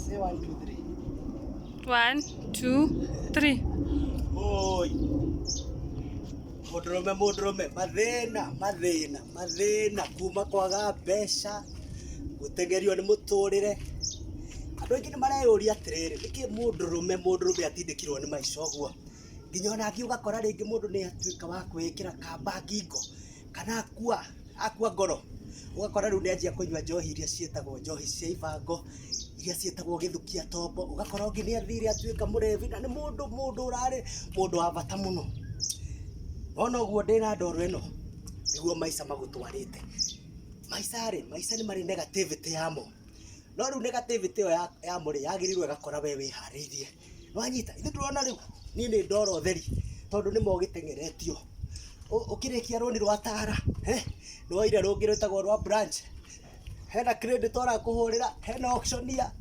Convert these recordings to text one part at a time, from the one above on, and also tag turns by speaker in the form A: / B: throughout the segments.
A: Say
B: one, two, three. One, two,
A: three. Oi. Mũndũrũme mũndũrũme mathĩna mathĩna mathĩna kuma kwaga mbeca gũtengerio nĩ mũtũrĩre andũ aingĩ nĩ mareyũria atĩrĩrĩ nĩkĩ mũndũrũme mũndũrũme atindĩkirwo nĩ maica ũguo nginya ona athiĩ ũgakora rĩngĩ mũndũ nĩ atuĩka wa kwĩĩkĩra kamba ngingo kana akua akua ngoro ũgakora rĩu nĩanjia kũnyua njohi iria ciĩtagwo njohi cia ibango iria ciĩtagwo gĩthukia tombo ũgakora ũngĩ nĩathire atuĩka mũrebi na nĩ mũndũ mũndũ ũrarĩ mũndũ wa bata mũno wona ũguo ndĩ na ndoro ĩno nĩguo maica magũtwarĩte maica rĩ maica nĩ marĩ negativity yamo no rĩu negativity ĩyo ya- yamo rĩ yagĩrĩirwo ĩgakora we wĩharĩirie Nĩwanyita? Ithuĩ ndũrona rĩu? Niĩ nĩ ndora ũtheri tondũ nĩ ma ũgĩteng'eretio. Ũ- Ũkĩrĩkia rũni rwa Tara, he, nĩ woire rũngĩ rwĩtagwo rwa Branch. Hena credit ũrakũhũrĩra, hena auctioneer,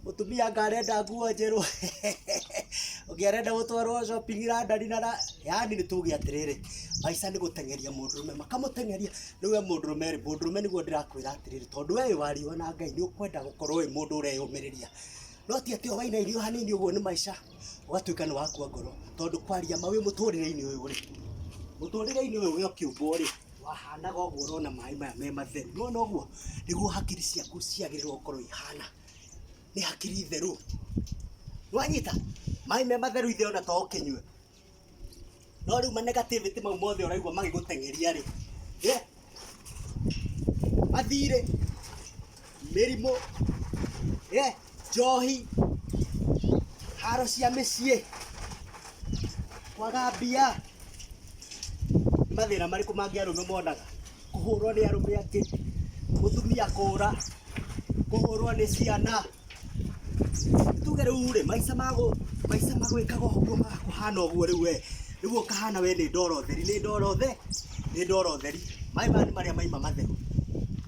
A: mũtumia anga arenda nguo njerũ, ũngĩ arenda gũtwarwo shopping London na ra- yaani nĩ tuge atĩrĩrĩ, maica nĩ gũteng'eria mũndũrũme, makamũteng'eria. Rĩu we mũndũrũme rĩ, mũndũrũme nĩguo ndĩrakwĩra atĩrĩrĩ, tondũ we wĩ wa riũa na Ngai nĩ ũkwenda gũkorwo wĩ mũndũ ũreyũmĩrĩria. no ti atĩ o waina irio hanini ũguo nĩ maica ũgatuĩka nĩ wakua ngoro tondũ kwaria ma wĩ mũtũrĩre-inĩ ũyũ rĩ mũtũrĩre-inĩ ũyũ wĩ ũkĩũmbwo rĩ wahanaga ũguo ũrona maĩ maya me matheru nĩwona ũguo nĩguo hakiri ciaku ciagĩrĩirwo gũkorwo ihana nĩ hakiri theru nĩwanyita maĩ me matheru ithe ona to ũkĩnyue No rĩu ma negativity mau mothe ũraigua magĩgũteng'eria rĩ, eh, mathirĩ, mĩrimũ, eh, njohi, haro cia mĩciĩ, kwaga mbia, nĩ mathĩna marĩkũ mangĩ arũme monaga? Kũhũrwo nĩ arũme angĩ, mũtumia kũũra, kũhũrwo nĩ ciana. tuge rä u rä maica mago maica magwĩkaga ũguo magakũhana ũguo rĩu we rĩu ũkahana we nĩ ndoro theri nĩ ndoro the nĩ ndoro theri maĩ maya nĩ marĩa maima matheru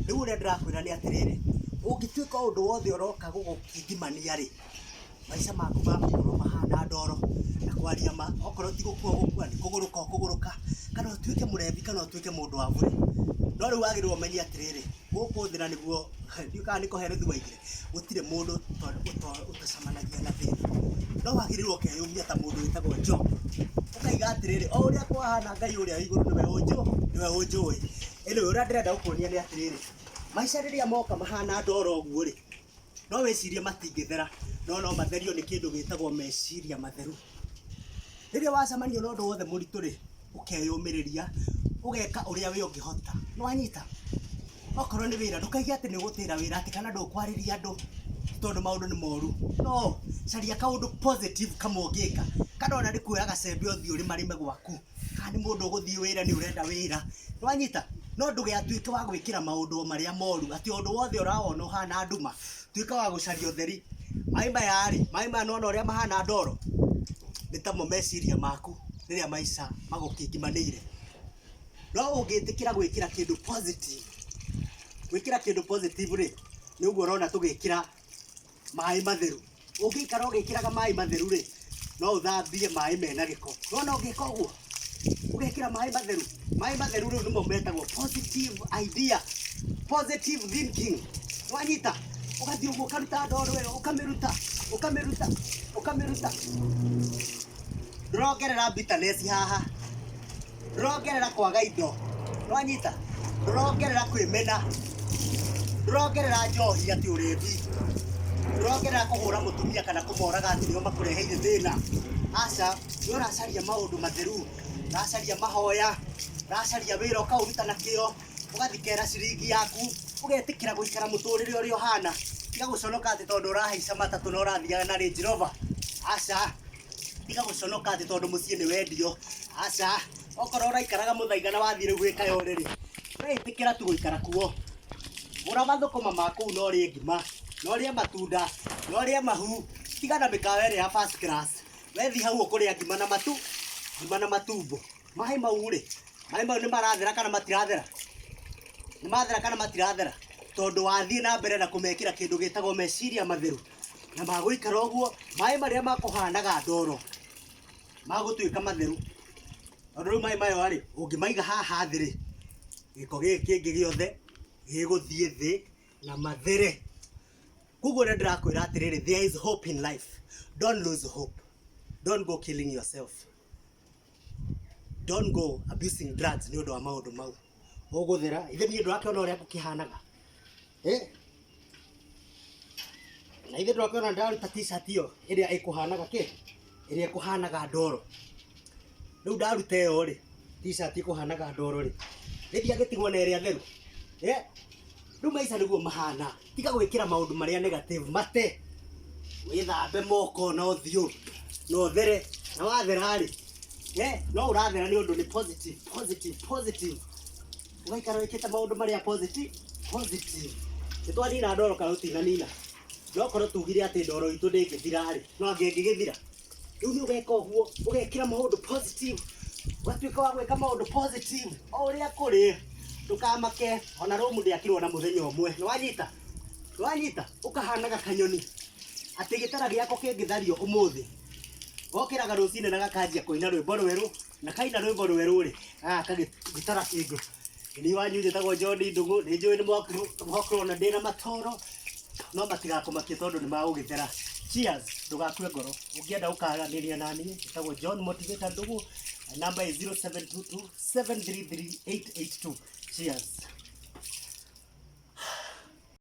A: rĩu ũrĩa ndĩrakwĩra nĩ atĩrĩrĩ ũngĩtuĩka ũndũ wothe ũroka gũgũkindimania rĩ maica maku magakorwo mahana ndoro na kwaria ma okorwo ti gũkua gũkua nĩ kũgũrũka ũkũgũrũka kana ũtuĩke mũrebi kana ũtuĩke mũndũ wa burĩ no rĩu wagĩrĩirwo ũmenye atĩrĩrĩ gũkũ thĩ na nĩguo ndiũ kana nĩ kũhero thwaigire gũtirĩ mũndũ ũto- ũto- ũtacamanagia na thĩna no wagĩrĩirwo ũkeyũmia ta mũndũ wĩtagwo job ũkaiga atĩrĩrĩ o ũrĩa kwahana ngai ũrĩa wĩ igũrũ nĩwe ũnjũ nĩwe ũnjũĩ ĩnĩ ũrĩa ndĩrenda gũkuonia nĩ atĩrĩrĩ maica rĩrĩa moka mahana ndoro ũguo rĩ no wĩcirie matingĩthera no no matherio nĩ kĩndũ gĩtagwo meciria matheru rĩrĩa wacemania na ũndũ wothe mũritũ rĩ ũkeyũmĩrĩria ũgeka ũrĩa wĩ ũngĩhota nĩ wanyita okorwo nĩ wĩra ndũkaige atĩ nĩ gũtĩra wĩra atĩ kana ndũkwarĩria andũ tondũ maũndũ nĩ moru no caria kaũndũ positive kamwe ũngĩka kana ona nĩ kuoya gacembe ũthiĩ ũrĩmarĩme gwaku Haha nĩ mũndũ ũgũthiĩ wĩra nĩ ũrenda wĩra. Nĩ wanyita? No ndũgatuĩke wa gwĩkĩra maũndũ o marĩa moru, atĩ o ũndũ wothe ũrawona ũhana nduma, tuĩka wa gũcaria ũtheri. Maĩ maya rĩ, maĩ maya nĩ wona ũrĩa mahana ndoro? Nĩ tamo meciria maku rĩrĩa maica magũkĩngimanĩire. No ũngĩtĩkĩra gwĩkĩra kĩndũ positive, gwĩkĩra kĩndũ positive rĩ, nĩ ũguo ũrona tũgĩkĩra. maĩ matheru ũngĩikara ũgĩkĩraga maĩ matheru rĩ no ũthambie maĩ mena gĩko nona ũngĩka ũguo ũgekĩra maĩ matheru maĩ matheru rĩu nĩmo metagwo positive idea positive thinking wanyita ũgathiĩ ũguo ũkaruta ndoro ĩyo ũkamĩruta ũkamĩruta ũkamĩruta ndũrongerera bitterness haha Rũrongerera kwaga indo. Nĩwanyita? Rũrongerera kwĩmena. Rũrongerera njohi atĩ ũrĩmbi. Rũrongerera kũhũra mũtumia kana kũmoraga atĩ nĩo makũreheire thĩna. Aca, we ũracaria maũndũ matheru, ũracaria mahoya, ũracaria wĩra ũkaũruta na kĩo, ũgathikera ciringi yaku, ũgetĩkĩra gũikara mũtũrĩre ũrĩa ũhana. Tiga gũconoka atĩ tondũ ũrahaica matatũ na ũrathiaga na Range Rover. Aca, tiga gũconoka atĩ tondũ mũciĩ nĩ wendio aca okorwo ũraikaraga mũthaiga na wathiĩ rĩu gwĩka yo rĩrĩ ũreĩtĩkĩra tu gũikara kuo gũra mathũkũma ma kũu na ũrĩe ngima na ũrĩe matunda na ũrĩe mahu tiga na mĩkawa ĩrĩa ya first class wethi hau ũkũrĩa ngima na matu ngima na matumbo maĩ mau rĩ maĩ mau nĩ marathera kana matirathera nĩ mathera kana matirathera tondũ wathiĩ na mbere na kũmekĩra kĩndũ gĩtagwo meciria matheru na magũikara ũguo, maĩ marĩa makũhanaga ndoro magũtuĩka matheru, tondũ rĩu maĩ maya rĩ, ũngĩmaiga haha thĩ rĩ, gĩko gĩkĩ kĩngĩ gĩothe gĩgũthiĩ thĩ na mathere. Koguo nĩ ndĩrakwĩra atĩrĩrĩ, there is hope in life, don't lose hope, don't go killing yourself. Don't go abusing drugs nĩ ũndũ wa maũndũ mau. Ũgũthera, ithe niĩ ndũrakĩona ũrĩa ngũkĩhanaga? Eh? Na ithe ndũrakĩona ndaruta t-shirt ĩyo ĩrĩa ĩkũhanaga kĩ? Ĩrĩa ĩkũhanaga ndoro. Rĩu ndaruta ĩyo rĩ, t-shirt ĩkũhanaga ndoro rĩ, rĩthiagĩtigwo na ĩrĩa theru? Eh? Rĩu maica nĩguo mahana. tiga gwĩkĩra maũndũ marĩa negative mate wĩthambe moko na ũthiũ na ũthere na wathera-rĩ eh, no ũrathera nĩ ũndũ nĩ positive positive positive ũgaikara wĩkĩte maũndũ marĩa positive positive nĩ twanina ndoro kana tũtinanina no korwo tugire atĩ ndoro itũ ndĩngĩthira-rĩ no angĩngĩgĩthira rĩu nĩ ũgeka ũguo ũgekĩra maũndũ positive ũgatuĩka wa gwĩka maũndũ positive o ũrĩa kũrĩ ndũkamake ona rũmu ndĩakirwo na mũthenya ũmwe nĩ wanyita nĩ wanyita ũkahanaga kanyoni atĩ gĩtara gĩako kĩngĩthario ũmũthĩ gokĩraga rũcinĩ na gakanjia kũina rwĩmbo rwerũ na kaina rwimbo rweru ri gaka gitara kingu ni wanyu njitagwo John Ndugu ni njui ni mwakorwo na ndina matoro no matigakumakie tondu ni magugithera cheers ndugakue ngoro ungienda ukaranĩria na niĩ njĩtagwo John Motivator Ndugu my number is 0722 733 882 cheers